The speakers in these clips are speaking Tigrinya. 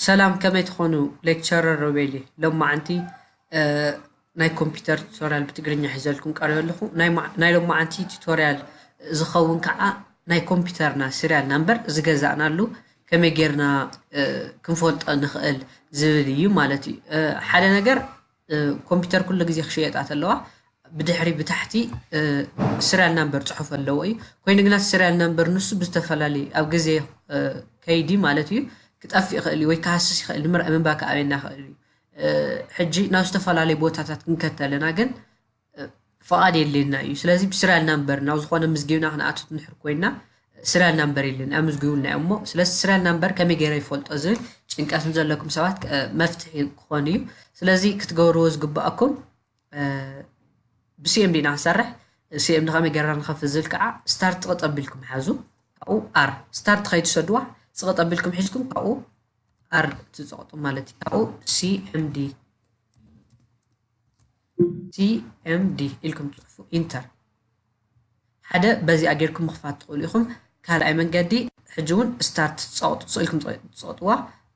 ሰላም ከመይ ትኾኑ ሌክቸረር ሮቤሊ ሎማዓንቲ ናይ ኮምፒውተር ቱቶሪያል ብትግርኛ ሒዘልኩም ቀሪበ ኣለኹ ናይ ሎማዓንቲ ቱቶሪያል ዝኸውን ከዓ ናይ ኮምፒውተርና ሲሪያል ናምበር ዝገዛእናሉ ከመይ ጌርና ክንፈልጦ ንኽእል ዝብል እዩ ማለት እዩ ሓደ ነገር ኮምፒተር ኩሉ ግዜ ክሽየጣ ተለዋ ብድሕሪ ብታሕቲ ስሪያል ናምበር ፅሑፍ ኣለዎ እዩ ኮይኑ ግና ስሪያል ናምበር ንሱ ብዝተፈላለዩ ኣብ ግዜ ከይዲ ማለት እዩ ክጠፍእ ይኽእል እዩ ወይ ክሃስስ ይኽእል ንምንባር ክኣበየና ይኽእል እዩ ሕጂ ናብ ዝተፈላለዩ ቦታታት ክንከተለና ግን ፍቓድ የድልየና እዩ። ስለዚ ብስሪያል ናምበር ናብ ዝኾነ ምዝጊብና ክንኣቱ ንድሕር ኮይና ስሪያል ናምበር የለን ኣምዝግቡልና እዮም እሞ ስለዚ ስሪያል ናምበር ከመይ ገይረ ይፈልጦ ዝብል ጭንቀት ንዘለኩም ሰባት መፍትሒ ክኾን እዩ። ስለዚ ክትገብርዎ ዝግባኣኩም ብሲኤምዲ ኢና ክንሰርሕ ሲኤምዲ ከመይ ገይርና ንኸፍት ዝብል ከዓ ስታርት ጥቕጥ ኣቢልኩም ሓዙ ካብኡ ኣር ስታርት ከይትሰድዋ ፅቕጥ ኣቢልኩም ሒዝኩም ካብኡ ኣር ትፀቕጡ ማለት እዩ ካብኡ ሲኤምዲ CMD ኢልኩም ትጽሕፉ ኢንተር ሓደ በዚኣ ጌርኩም ምኽፋት ትኽእሉ ኢኹም ካልኣይ መንገዲ ሕጂ እውን ስታርት ጸቕጡ ኢልኩም ትጸቕጥዋ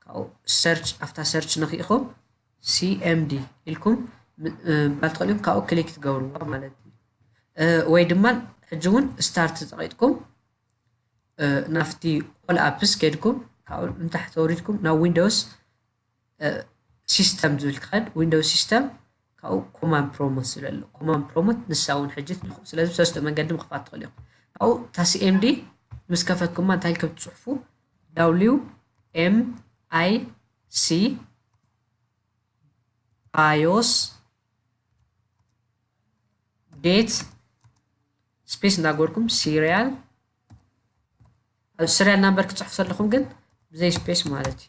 ካብኡ ሰርች ኣብታ ሰርች ነኺእኹም CMD ኢልኩም ምባል ትኽእሉ ኢኹም ካብኡ ክሊክ ትገብርዋ ማለት እዩ ወይ ድማ ሕጂ እውን ስታርት ጸቂጥኩም ናብቲ ኦል ኣፕስ ኬድኩም ካብኡ ንታሕቲ ወሪድኩም ናብ ዊንዶውስ ሲስተም ዝብል ትኸድ ዊንዶው ሲስተም ካብኡ ኮማን ፕሮሞት ዝብል ኣሎ ኮማን ፕሮሞት ንሳ እውን ሕጂ ትንኽኡ ስለዚ ብሰለስተ መንገዲ ምኽፋት ትኽእሉ ኢኹም ካብኡ እታ ሲኤምዲ ምስ ከፈትኩማ እንታይ ከም ትፅሕፉ ዳብሊው ኤም ኣይ ሲ ባዮስ ዴት ስፔስ እናገበርኩም ሲሪያል ኣብ ሲሪያል ናምበር ክፅሕፉ ዘለኹም ግን ብዘይ ስፔስ ማለት እዩ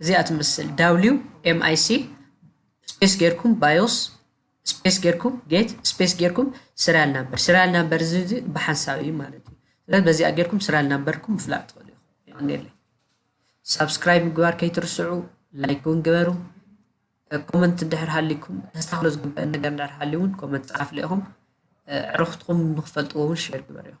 እዚኣ ትመስል ዳብሊው ኤምኣይሲ ስፔስ ጌርኩም ባዮስ ስፔስ ጌርኩም ጌት ስፔስ ጌርኩም ስሪያል ናምበር ስሪያል ናምበር እዚ እዚ ብሓንሳብ እዩ ማለት እዩ ስለዚ በዚኣ ጌርኩም ስሪያል ናምበርኩም ምፍላጥ ትኽእሉ ኢኹም ሳብስክራይብ ምግባር ከይትርስዑ ላይክ እውን ግበሩ ኮመንት እንድሕር ሃልይኩም ተስተካክሎ ዝግበእን ነገር እንድሕር ሃልዩ እውን ኮመንት ፀሓፍለ ኢኹም ዕርኽትኹም ንክፈልጥዎ እውን ሼር ግበሩ ኢኹም